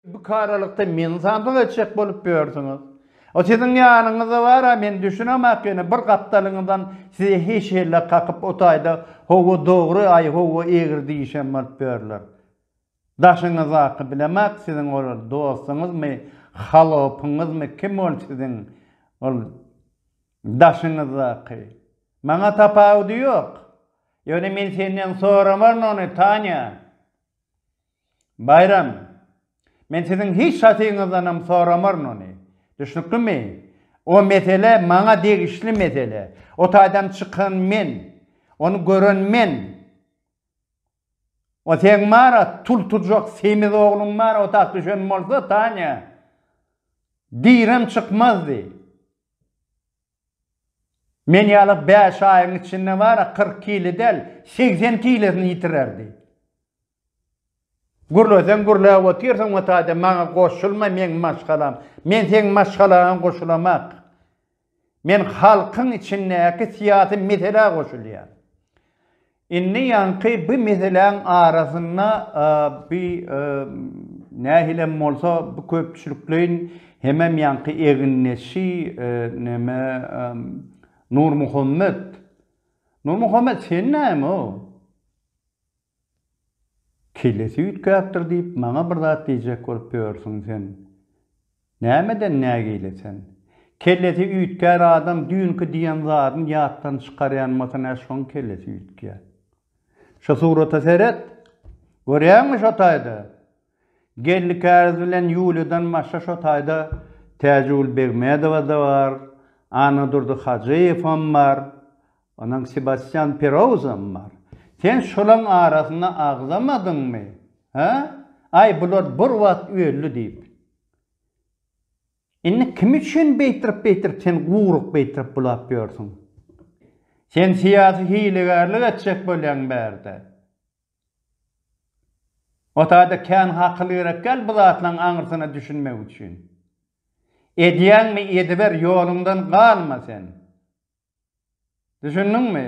Bu karalykda meni zabak etjek bolup ýörsüňiz. O siziň ýanyňyzda bar-a, men düşünemok ýöne bir gapdalyňyzdan sizi heşelle kakyp o taýda howwa dogry, aý howwa egri diýişen bolup ýörler. Daşyňyzdaky bilemok siziň ol dostuňyzmy, halopyňyzmy kim ol siziň ol daşyňyzdaky. Maňa tapawudy ýok. Ýöne men senden soramaryn ony, Tanya. Baýram, Men siziň hiç zatyňyzdanam soramaryn ony. Düşnüklimi? O mesele maňa degişli mesele. O taýdan çykan men. Ony gören men. O seň bar-a, tultujak semiz ogluň bar-a otag düşen bolsa, Tanya, direm çykmazdy. Men ýaly bäş aýyň içinde bar-a kyrk kile däl, segsen kilesini ýitirerdi. Gürleseň gürläp otyrsyň we taýda maňa goşulma meň maşgalam. Men seň maşgalaňa goşulamak. Men halkyň içindäki syýasy meselä goşulýan. Indi ýaňky bu meseläň arasynda bu nähilem bolsa bu köpçülikleýin hemem ýaňky egindeşi neme Nurmuhammet Nurmuhammet sen näme o kellesi üýtgäpdir diýip maňa bir zat diýjek bolup ýörsüň sen Nämeden nägile sen? Kellesi üýtgär adam düýnki diýen zadyny ýatdan çykarýanmasy nä şoň kellesi üýtgýä. Şu surata seret. Görýäňmi şo taýda? Geldi käriz bilen Ýuliýadan başga şo taýda Täjigül Begmedowa-da bar, Annadurdy Hajyýewam bar. Onuň Sebastýan Perouzam bar. Sen şolaň arasyna agzamadyňmy? Hä? Aý, bular bir wagt öldi diýip. Indi kim üçin beýtirip-beýtirip sen guryk beýtirip bulap ýörsüň? Sen syýasy hilegärlik etjek bolýaň bärde. Otada kän hakyl gerek däl bu zatlaň aňyrsyna düşünmek üçin. Edýäňmi ediber ýoluňdan galma sen. Düşündiňmi?